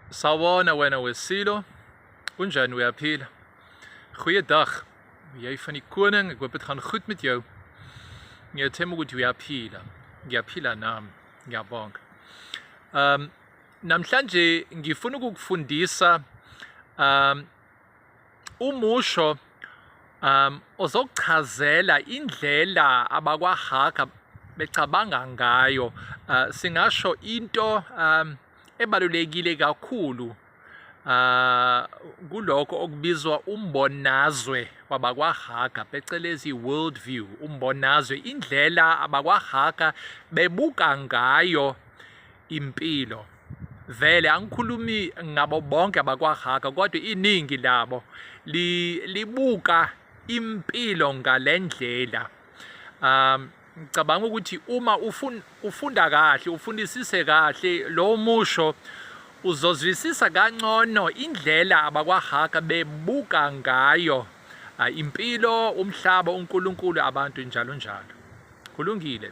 Sawona wena wesilo. Kunjani uyaphila? Goeiedag. Jy van die koning, ek hoop dit gaan goed met jou. Ngiyathemba ukuthi uyaphila. Ngiyaphila nami. Ngiyabonga. Um namhlanje ngifuna ukukufundisa um umusho um ozokuchazela indlela abakwahaga becabanga ngayo uh, singasho into um ebalulekile kakhulu uh kuloko okubizwa umbonazwe wabakwahaga phecelezi world view umbonazwe indlela abakwahaga bebuka ngayo impilo vele angikhulumi ngabo bonke abakwahaka kodwa iningi labo libuka impilo ngalendlela um ngicabanga ukuthi uma ufun, ufunda kahle ufundisise kahle lo musho uzozwisisa kancono indlela abakwahaka bebuka ngayo uh, impilo umhlaba uNkulunkulu abantu njalo njalo kulungile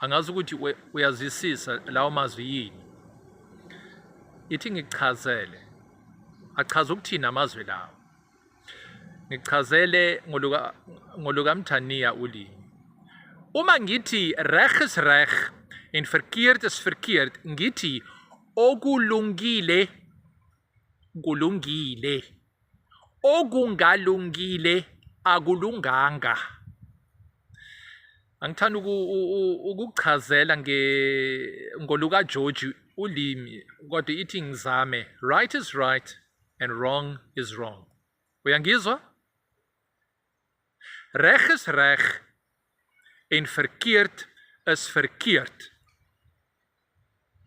angazi ukuthi uyazisisa lawo mazwi yini ithi ngichazele achaza ukuthini amazwi lawo ngichazele ngoluka ngoluka Mthaniya ulimi uma ngithi reg is reg en verkeerd is verkeerd ngithi okulungile kulungile okungalungile akulunganga angithanda ukukuchazela nge ngoluka George ulimi kodwa ithi ngizame right is right and wrong is wrong uyangizwa Reg is reg en verkeerd is verkeerd.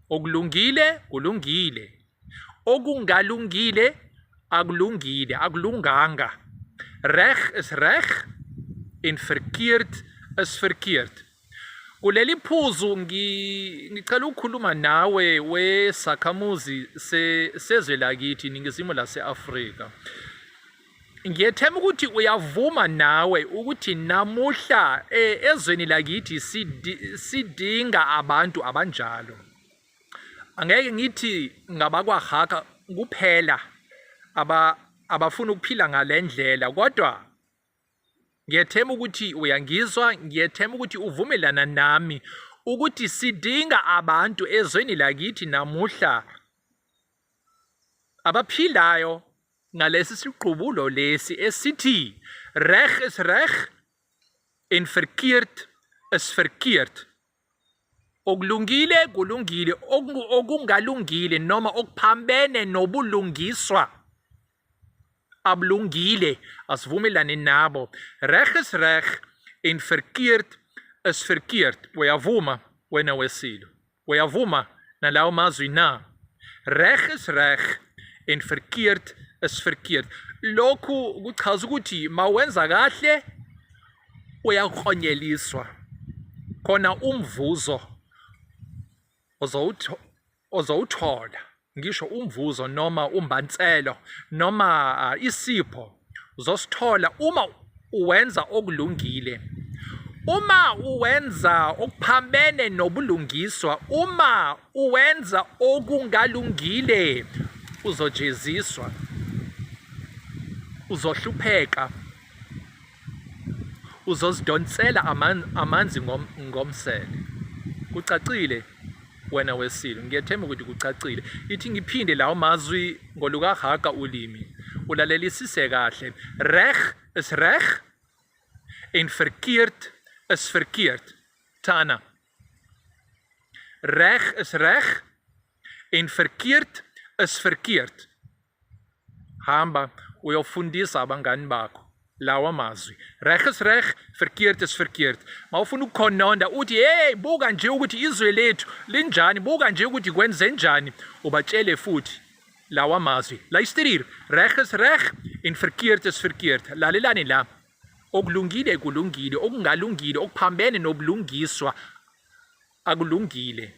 Okulungile kulungile. Okungalungile akulungile, akulunganga. Reg is reg en verkeerd is verkeerd. Kuleli phuzu ngicela ukukhuluma nawe wesakhamuzi sezwe lakithi iningizimu lase-Afrika. Ngiyethemba ukuthi uyavuma nawe ukuthi namuhla eh, ezweni lakithi sidinga abantu abanjalo. Angeke ngithi ngabakwaHaka kuphela aba abafuna ukuphila ngalendlela kodwa ngiyethemba ukuthi uyangizwa ngiyethemba ukuthi uvumelana nami ukuthi sidinga abantu ezweni lakithi namuhla abaphilayo ngalesi siqubulo lesi esithi reg is reg en verkeerd is verkeerd okulungile kulungile okungalungile noma okuphambene nobulungiswa abulungile asivumelane nabo reg is reg en verkeerd is verkeerd uyavuma wena wesilo Uyavuma nalawo mazwi na? Reg is reg en verkeerd is verkeerd. Lokhu kuchaza ukuthi mawenza kahle uyakhonyeliswa. Khona umvuzo ozowuthola. ngisho umvuzo noma umbanselo noma ah, isipho uzosithola uma uwenza okulungile uma uwenza okuphambene nobulungiswa uma uwenza okungalungile uzojeziswa uzohlupheka uzozidonsela amanzi ngomsele kucacile wena weSilo. Ngiyethemba ukuthi kucacile. Ithi ngiphinde lawo mazwi ngolukaHaga ulimi. Ulalelisise kahle. Reg is reg en verkeerd is verkeerd. Tana. Reg is reg en verkeerd is verkeerd. Hamba uyofundisa abangani bakho lawa mazwi reg is reg verkeerd is verkeerd ma ufuna ukukhononda uthi hey buka nje ukuthi izwe lethu linjani buka nje ukuthi kwenze njani ubatshele futhi lawa mazwi luister hier reg is reg en verkeerd is verkeerd lalelani la okulungile kulungile okungalungile okuphambene nobulungiswa Akulungile.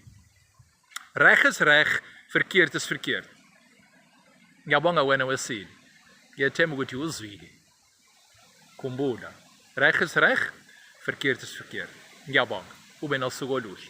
Reg is reg, verkeerd is verkeerd. Ngiyabonga wena wesile. Ngiyethemba ukuthi uzwile. Khumbula, reg is reg, verkeerd is verkeerd. Ngiyabonga. Ube nosuku oluhle.